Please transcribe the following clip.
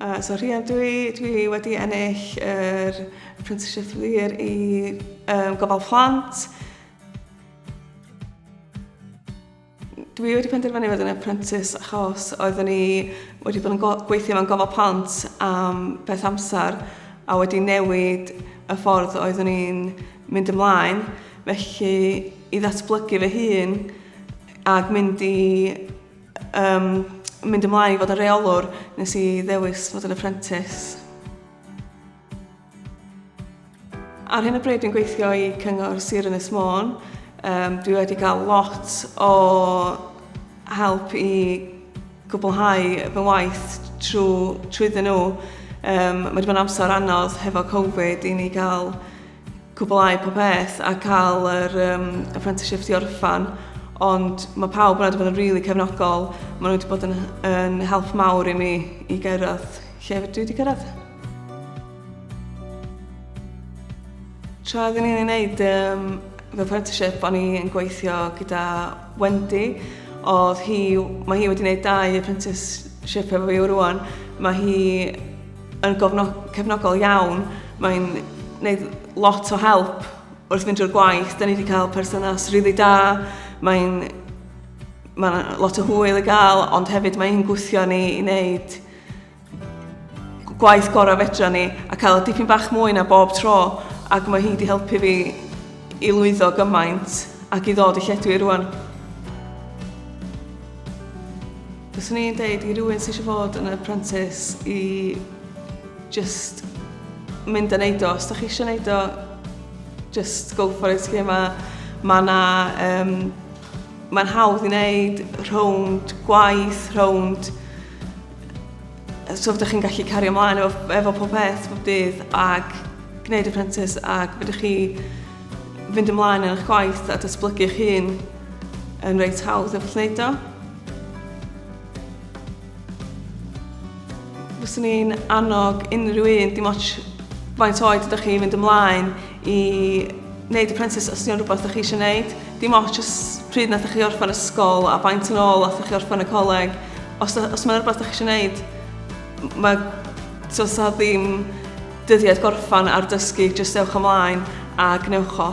Uh, so rhian, dwi, dwi wedi ennill yr er Prentisiaeth Lir i um, gofal plant. Dwi wedi penderfynu fod yn apprentice achos oeddwn ni wedi bod yn gweithio mewn gofal plant am beth amser a wedi newid y ffordd oeddwn ni'n mynd ymlaen. Felly, i ddatblygu fy hun, Ac mynd i um, mynd ymlaen i fod yn reolwr, nes i ddewis fod yn apprentice. Ar hyn o bryd dwi'n gweithio i Cyngor Sir Ynys Môn. Um, dwi wedi cael lot o help i gwblhau fy waith trwy, trwyddyn nhw. Um, mae wedi bod yn amser anodd hefo Covid i ni gael cwblhau popeth a cael yr um, apprenticeship i orffan ond mae pawb wedi bod yn rili really cefnogol maen nhw wedi bod yn, yn help mawr i mi i gyrraedd lle dwi wedi cyrraedd Tra oeddwn i'n ei wneud um, fy apprenticeship, o'n i'n gweithio gyda Wendy. Oedd hi, mae hi wedi gwneud dau apprenticeship efo fi rwan. Mae hi yn cefnogol iawn. Mae'n gwneud lot o help wrth fynd drwy'r gwaith. Da ni wedi cael perthynas rili really da. Mae'n mae lot o hwyl i gael, ond hefyd mae hi'n gwthio ni i wneud gwaith gorau fedra ni a cael y dipyn bach mwy na bob tro ac mae hi wedi helpu fi i lwyddo gymaint ac i ddod i lledwi rwan. Fyswn i'n deud i rywun sydd eisiau fod yn apprentice i just mynd a neud o. Os da chi eisiau neud o, just go for it. Lle mae ma na, um, mae'n hawdd i wneud rhwnd gwaith, rhwnd so fydych chi'n gallu cario ymlaen efo, efo pob peth, pob dydd, ac gwneud apprentice, ac fydych chi fynd ymlaen yn eich gwaith a datblygu eich hun yn reit hawdd efo wneud o. Fyswn i'n annog unrhyw un, dim ots faint oed ydych chi, i fynd ymlaen i wneud apprentice os ydy'n rhywbeth ydych chi eisiau gwneud. Dim ots os pryd nath chi orffen ysgol a faint yn ôl nath chi orffen y coleg. Os, os mae'n rhywbeth ydych chi eisiau gwneud, mae so, so ddim dyddiad gorffan ar dysgu, jyst ewch ymlaen a gwnewch o.